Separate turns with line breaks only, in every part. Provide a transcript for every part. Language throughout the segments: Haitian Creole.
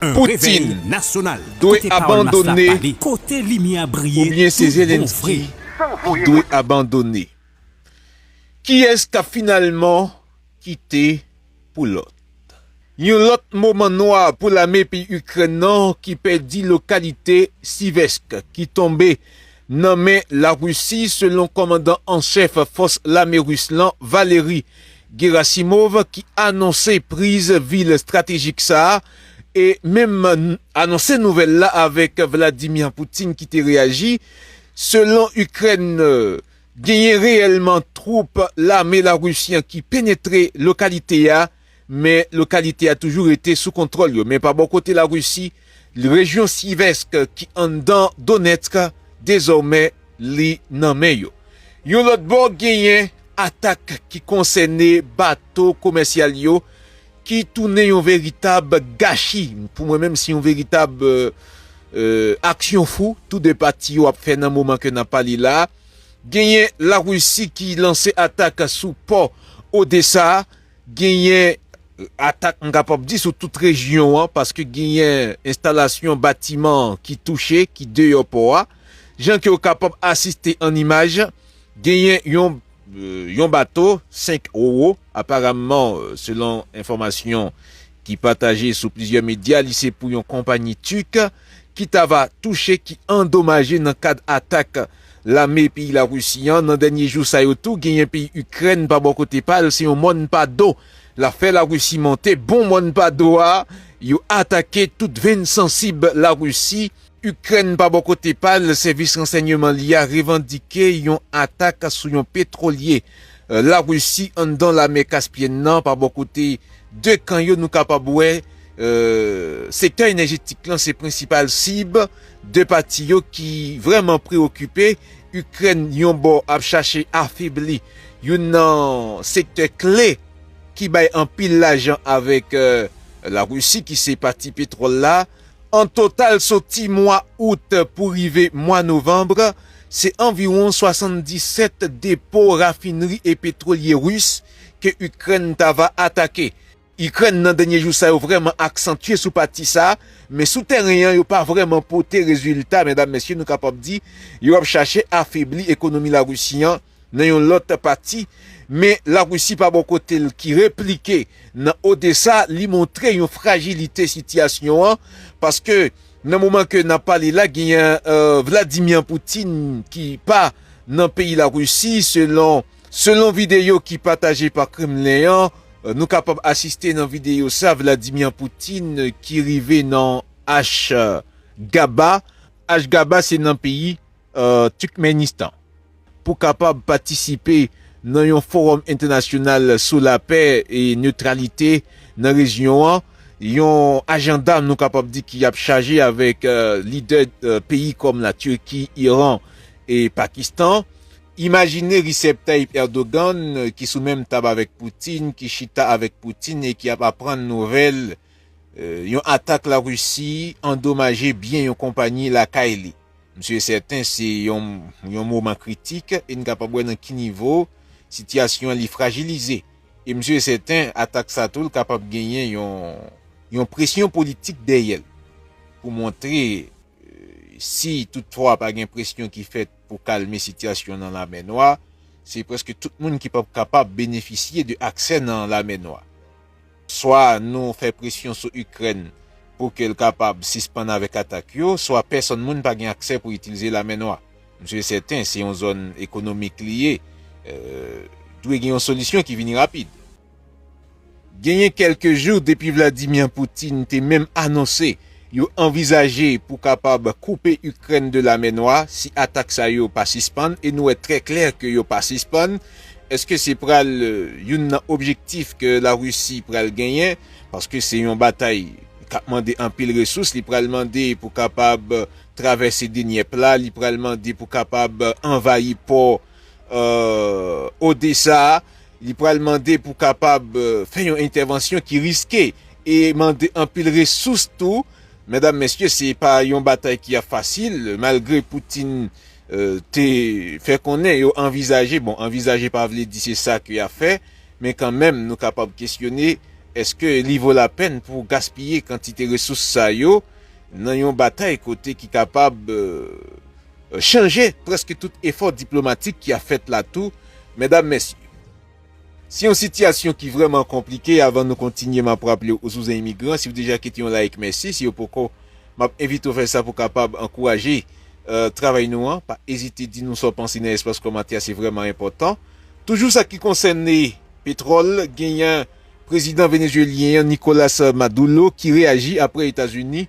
Putin dwe abandone oubyen se
Zelensky ki dwe abandone? Kiyès kap finalman kite pou lòt? Yon lòt moman nwa pou lame peyi Ikrèn nan ki pèdi lokalite Siversk ki tonbe nan men Larisi selon kòmandan an chèf fòs lame ris lan Valery Gerasimov ki anonse priz vil stratejik sa a e menm anonse nouvèl la avèk Vladimir Putin ki te reyaji selon Ikrèn genyen reyèlman twoup lame Larisi an ki penetre lokalite a. Men lokalite a toujou rete sou kontwòl yo. Men pa bò kote Larisi, rejyon Slyvsk ki anndan Donetsk, dezòmè li nan men yo. Yon lòt bò genyen atak ki konsène bato komèsyal yo ki tounen yon veritab gachi, pou mwen menm se yon veritab aksyon fou tou 2 pati yo ap fè nan moman ke n ap pale la. Genyen Larisi ki lanse atak sou pò Odesa a. Genyen atak m kapab di sou tout rejyon an paske genyen enstalasyon batiman ki touche ki deyò pò a. Jan ke w kapab asiste an imaj, genyen yon bato 5 Roro, aparamman selon enfòmasyon ki pataje sou plizyè medya li se pou yon konpanyi Turk ki ta va touche, ki andomaje nan kad atak. Lame peyi la Rusi an nan dènye jou sa yo tou genyen peyi Ikrèn pa bò kote pa l se yon mòn pa do l ap fè la Rusi monte bon mòn pa do a yo atake tout venn sansib la Rusi. Ikrèn pa bò kote pa l sèvis ransènyeman li a revandike yon atak sou yon petwolye la Rusi anndan lamè Kaspyèn nan pa bò kote 2 kan yo nou kapab wè sektè enèjetik lan se prensipal sib 2 pati yo ki vrèman preokipe, Ikrèn yon bò ap chache afebli youn nan sektè kle ki bay anpil lajan avèk Larisi ki se pati petwòl la. An total soti mwa Out pou rive mwa Novanb, se anviwon 77 depo rafinri e petwolye Ris ke Ikrèn ta va atake. Ikrèn nan dènye jou sa yo vrèman aksantye sou pati sa, men sou tèren an yo pa vrèman pote rezilta medam mesye nou kapab di yo ap chache afebli ekonomi Larisi an nan yon lòt pati men Larisi pa bò kote l ki replike nan Odesa li montre yon frajilite sitiyasyon an paske nan moman ke nap pale la genyen Vladimir Poutine ki pa nan peyi Larisi selon Selon videyo ki pataje pa Kremlen an, nou kapab asiste nan videyo sa Vladimir Putin ki rive nan Ashgaba, Ashgaba se nan peyi Turkmenistan, pou kapab patisipe nan yon fowòm entènasyonal sou lapè e netralite nan rejyon an, yon ajanda nou kapab di ki ap chaje avèk lidè peyi kòm la Turki, Iran e Pakistan. Imajine Recep Tayyip Erdogan ki sou menm tab avèk Putin, ki chita avèk Putin e ki ap aprann nouvèl yon atak la Risi andomaje byen yon konpanyi lakay li. Msye sèten se yon moman kritik e n kapab wè nan ki nivo sitiyasyon an li frajilize. E msye sèten atak sa tou l kapab genyen yon presyon politik dèyè l pou montre si tout fwa pa gen presyon ki fèt pou kalme sitiyasyon nan Lamè Nwa, se prèske tout moun ki pap kapab benefisye de aksè nan Lamè Nwa. Swa nou fè presyon sou Ikrèn pou ke l kapab sispann avèk atak yo, swa pèsonn moun pa gen aksè pou itilize Lamè Nwa. M swe sèten, se yon zòn ekonomik li ye, dwe gen yon solisyon ki vini rapid. Genyen kèlke jou depi Vladimir Putin te menm anonse yo anvizaje pou kapab koupe Ikrèn de Lamè Nwa si atak sa yo pa sispann e nou wè trè klè ke yo pa sispann. Eske se pral youn nan objektif ke Larisi pral genyen paske se yon batay kap mande anpil resous, li pral mande pou kapab travèse Denyèp la, li pral mande pou kapab anvayi pò Odesa, li pral mande pou kapab fè yon entèvansyon ki riske e mande anpil resous tou. Medam mesye, se pa yon batay ki ap fasil, malgre Putin te fè konnen yo anvizaje, bon anvizaje pa vle di se sa ke ya fè, men kan menm nou kapab kesyone eske li vo la pèn pou gaspiye kantite resous sa yo nan yon batay kote ki kapab Chanje prèske tout efò diplomatik ki ap fèt la tou, medam mesye. Se yon sitiyasyon ki vrèman konplike avan nou kontinye map raple ou sou zen imigran si ou deja kite yon like mèsi si ou poko map envite ou fè sa pou kapab ankouraje travay nou an pa ezite di nou sa ou panse nan espas komantè a se vrèman enpòtan toujou sa ki konsène petròl genyen prezidan venezuelyen an Nicolas Madullo ki reyaji aprè etazini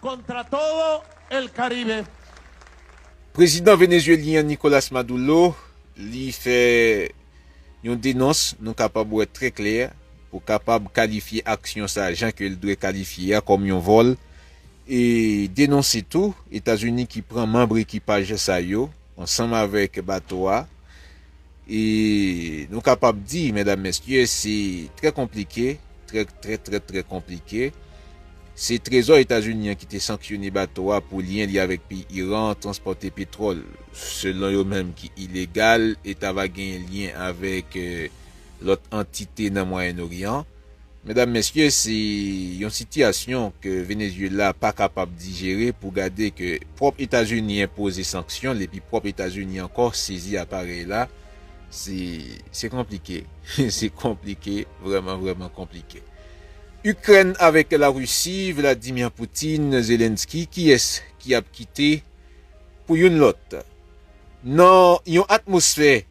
Kontra todo
el Caribe.
Prezidan Venezuelyen an Nicolas Madullo li fè Yon denons nou kapab wè trè klè pou kapab kalifye aksyon sa jan ke l dwe kalifye a kòm yon vòl e denonse tou Etazini ki pran manbre ekipaj sa yo ansanm avèk bato a E nou kapab di, medam mesye, se trè konplike, trè trè trè trè konplike. Se trezò Etazini an ki te sanksyone bato a pou lyen li avèk peyi Iran transpòte petwòl, selon yo menm ki ilegal e ta va genyen lyen avèk lòt antite nan Mwayen Oryan. Medam mesye se yon sitiyasyon ke Venezuela pa kapab dijere pou gade ke pwòp Etazini enpoze sanksyon l epi pwòp Etazini ankò sezi aparèy la se se konplike se konplike vrèman vrèman konplike. Ikrèn avèk la Risi Vladimir Putin Zelensky kiyès ki ap kite pou youn lòt nan yon atmosfè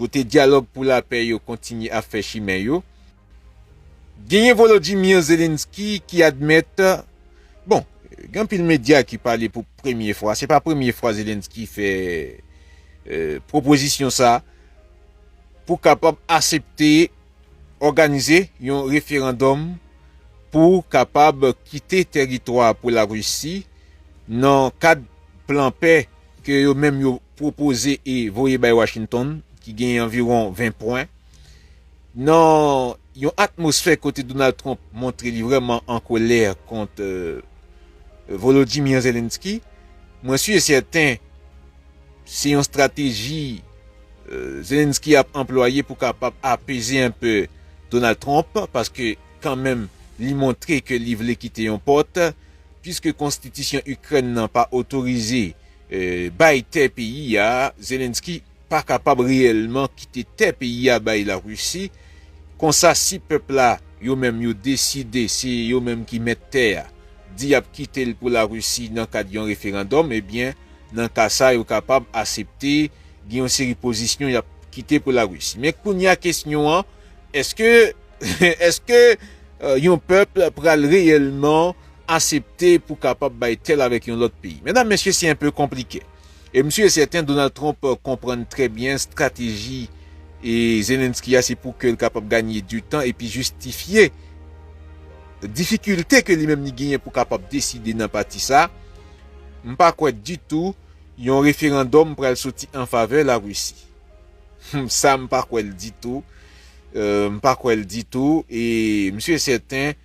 kote dyalòg pou lapè yo kontinye ap fè chimen yo, genyen Volodymyr Zelensky ki admèt, bon, gen anpil medya ki pale pou premye fwa, se pa premye fwa Zelensky fè pwopozisyon sa, pou kapab asepte òganize yon referandòm pou kapab kite tèritwa pou Larisi nan kad plan pè. ke yo menm yo pwopoze e voye bay Washington, ki genyen anviwon 20 pwen, nan yon atmosfè kote Donald Trump montre li vrèman an kolè kont Volodymyr Zelensky, mwen si e sèten se yon strateji Zelensky ap anplwaye pou kapab apeze enpe Donald Trump, paske kanmenm li montre ke li vle kite yon pòt. Piske konstitisyon Ikrèn nan pa otorize bay tè peyi a, Zelensky pa kapab reyèlman kite tè peyi a bay Larisi. Konsa si pèp la yo menm yo deside se yo menm ki mèt tè a, di y ap kite l pou Larisi nan kad yon referandòm, ebyen nan ka sa yo kapab asepte gen yon seri pozisyon y ap kite pou Larisi. Men kounya kesyon an, èske. Eske yon pèp pral reyèlman asepte pou kapab bay tè l avèk yon lòt peyi? Medam, mesye, se enpe konplike. E m si e sèten Donald Trump konprann trè byen strateji Zelensky a se pou ke l kapab ganye di tan epi jistifye difikilte ke li menm li genyen pou kapab deside nan pati sa. M pa kwè ditou yon referandòm pral soti an favè Larisi. Humm sa m pa kwè l ditou m pa kwè l ditou e m si e sèten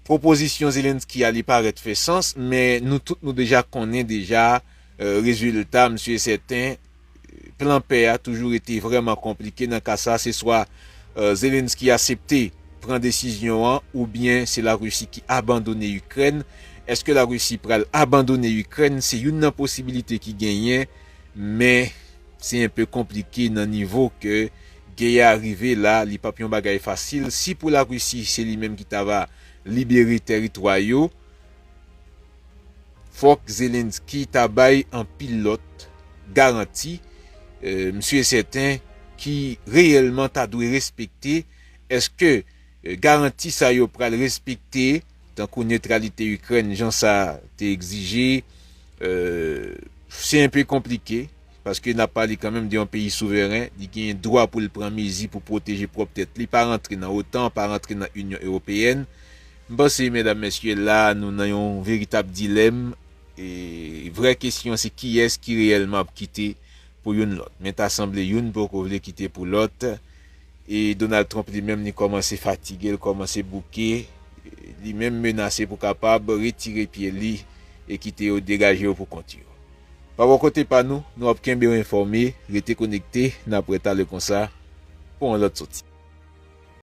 pwopozisyon Zelensky a li parèt fè sans men nou tout nou deja konnen deja rezilta m si e sèten plan pè a toujou rete vrèman konplike nan ka sa se swa Zelensky asepte pran desizyon an oubyen se Larisi ki abandone Ikrèn èske Larisi pral abandone Ikrèn se youn nan posibilite ki genyen men. Se enpe konplike nan nivo ke gè a rive la li pap yon bagay fasil si pou la Risi se li menm ki ta va libere tèritwa yo fòk Zelensky ta bay anpil lòt garanti m si e sèten ki reyèlman ta dwe respekte eske garanti sa yo pral respekte tankou netralite Ikrèn jan sa te egzije, se enpe konplike, paske nap pale kanmenm de yon peyi souveren, li genyen dwa pou l pran mezi pou pwoteje pwòp tèt li, pa rantre nan otan, pa rantre nan Inyon Ewopeyèn. M panse medam mesye la nou nan yon veritab dilèm, vrè kesyon se kiyès ki reyèlman ap kite pou youn lòt, men ta sanble youn poko vle kite pou lòt, E Donald Trump li menm li kòmanse fatige, li kòmanse bouke, li menm menase pou kapab retire pye li e kite yo degaje yo pou kont yo. Pa bò kote pa nou, nou ap kenbe w enfòme, rete konekte, n ap retabli konsa pou yon lòt soti.